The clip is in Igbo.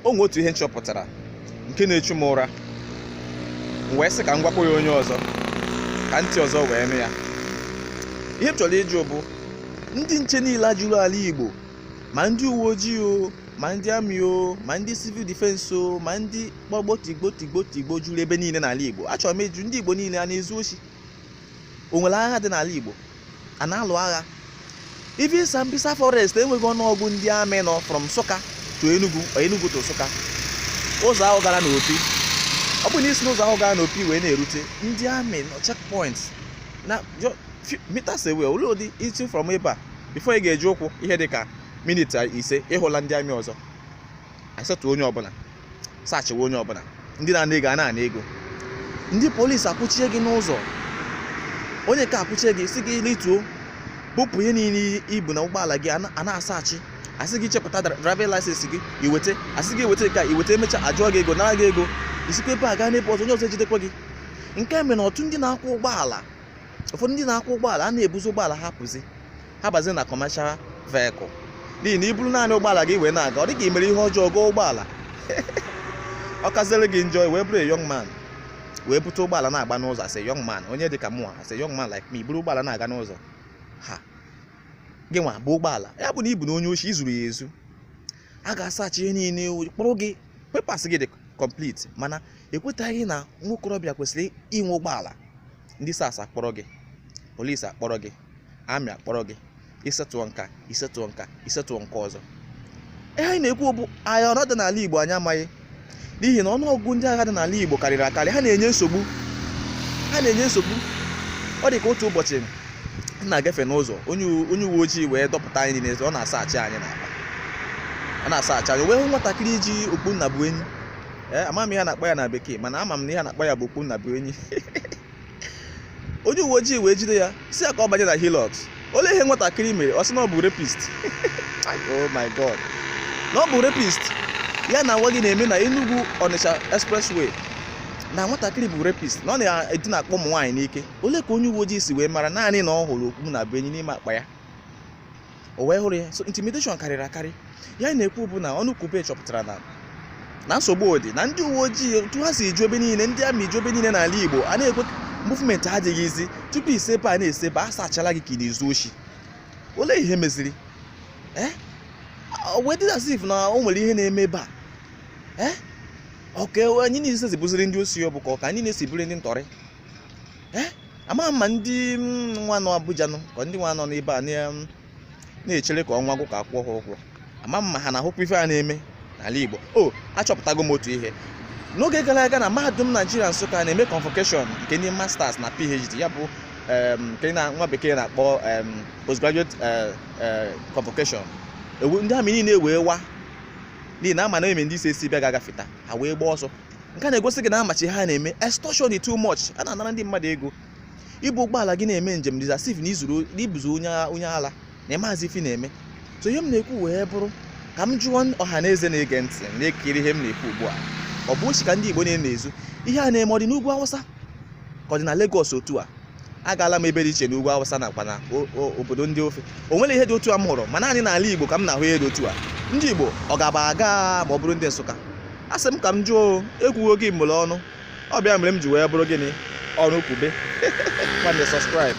o nwe otu ihe m chọpụtara nke na-echu m ụra m wee sị ka m gwakwa ya onye ọzọ ka ntị ọzọ wee nụ ya ihe m chọrọ ịjụ bụ ndị nche niile a juru ala igbo ma ndị uwe ojii o ma ndị amị o ma ndị civil defense o ma ndị gbagbuo tigbuo tigbuo tigbuo juru ebe niile n'ala igbo achọrọ m ịjụ ndị igbo niile a na-ezu oshi o nwere agha dị n'ala igbo a na-alụ agha even Sambisa forest enweghị ọnụọgụ ndị amị nọ from Nsụka to Enugu or Enugu to Nsụka ụzọ ahụ gara n'Opi ọ bụ na i si n'ụzọ ahụ gara n'Opi wee na-erute ndị amị nọ checkpoints na meters away olee ụdị i si from ebe a before ị ga-eji ụkwụ ihe dị ka minit ise ị hụla ndị amị ọzọ asetụ onye ọbụla sachịwa onye ọbụla ndị na-ana ego a na-ana ego ndị polisi akwụchie gị n'ụzọ onye nke a akwụchie gị sị gị rituo bupụ ihe niile i bu na ụgbọala gị a na-asachi a sị gị chepụta driving license gị i weta a sị gị weta nke a i weta e mechaa a jụọ gị ego nara gị ego i sikwa ebe a gaa n'ebe ọzọ onye ọzọ ejidekwa gị nke mere na ọtụ ndị na-akwọ ụgbọala ụfọdụ ndị na-akwọ ụgbọala a na-ebuzi ụgbọala ha pụzi ha bazi na commercial vehicle n'ihi na i buru naanị ụgbọala gị wee na-aga ọ dị ka i mere ihe ọjọọ goo ụgbọala ọ kaziere gị njọ wee bụrụ young man wee bute ụgbọala na-agba n'ụzọ as a young man onye dị ka mụ as a young man like me i buru ụgbọala na-aga n'ụzọ ha gị nwa bu ụgbọala ya bụ na ị bụna onye oshi i zuru ya ezu a ga-asachi ihe niile kpụrụ gị papers gị dị complete mana e kwetaghị na nwa okorobịa kwesịrị inwe ụgbọala ndị SARS akpọrọ gị polis akpọrọ gị amị akpọrọ gị ị setụọ nke a ị setụọ nke a ị setụọ nke ọzọ ihe anyị na-ekwu bụ agha ọrụ dị n'ala Igbo anyị amaghị n'ihi na ọnụọgụgụ ndị agha dị n'ala Igbo karịrị akarị ha na-enye nsogbu ha na-enye nsogbu ọ dị ka otu ụbọchị m na-agafe n'ụzọ onye uwe ojii wee dọpụta anyị n'ezi ọ na-asachị anyị n'akpa ọ na-asachị anyị wee hụ nwatakịrị ji okpu nna bụ enyi ee ama m ihe a na-akpọ ya na bekee mana ama m na ihe a na-akpọ ya bụ okpu nna bụ enyi onye uwe ojii wee jide ya sị ya ka ọ banye na Hilux olee ihe nwatakịrị mere ọ sị na ọ bụ rapist oh my god na ọ bụ rapist ihe a na-agwa gị na-eme na Enugu Onitsha expressway na nwatakịrị bụ rapist na ọ na-edinakpo ụmụ nwaanyị n'ike olee ka onye uwe ojii si wee mara naanị na ọ hụrụ okpu nna bụ enyi n'ime akpa ya o wee hụrụ ya so intimidation karịrị akarị ihe a na-ekwu bụ na ọnụ kwube chọpụtara na na nsogbu dị na ndị uwe ojii otu ha si eju ebe niile ndị amị eju ebe niile n'ala igbo a na-ekwe movement adịghị easy tupu i si ebe a na-esi ebe a sachala gị ka ị na-ezu oshi olee ihe meziri eh? wee dị as if na o nwere ihe na-eme ebe a eh? ọ ka anyị niile si bụziri ndị oshi ọ bụ ka ọ ka anyị niile si bụrụ ndị ntọrị eh, amaghị ma ndị mm, nwa nọ Abuja nọ ka ndị nwa nọ n'ebe a mm, na-echere ka ọnwa gwụ ka a kwụọ ha ụgwọ ama m ma ha na-ahụkwa ife a na-eme n'ala Igbo o oh, achọpụtago m otu ihe n'oge gara aga na mahadum naijiria nsụka na-eme convocation nke ndị masters na phd ya bụ nke na nwa bekee na-akpọ postgraduate eh, eh, convocation ndị amị niile wee wa n'ihi na a ma na ebe ndị isi esi bịa ga-agafeta ha wee gbaa ọsọ nke a na-egosi gị na a macha ihe a na-eme extortion too much a na-anara ndị mmadụ ego i bu ụgbọala gị na-eme njem dị as if na i zuru ị bụzi onye onye ala na ị mazi ife ị na-eme so ihe m na-ekwu wee bụrụ ka m jụọ ọha na eze na-ege ntị na-ekiri ihe m na-ekwu ugbu a ọ bụ oshi ka ndị igbo na-ezu ihe a na-eme ọ dị n'ugwu awụsa ka ọ dị na Lagos otu a agaala m ebe dị iche n'ugwu awụsa nakwa na o- o- obodo ndị ofe o nwere ihe dị otu a m hụrụ ma naanị n'ala igbo ka m na-ahụ ihe dị otu a ndị igbo ọ ga-aba agaa ma ọ bụrụ ndị nsụka a sị m ka m jụọ ekwughị ekwu mere ọnụ ọ bụ ya mere m ji wee bụrụ gịnị ọrụ okwube nwanne subscribe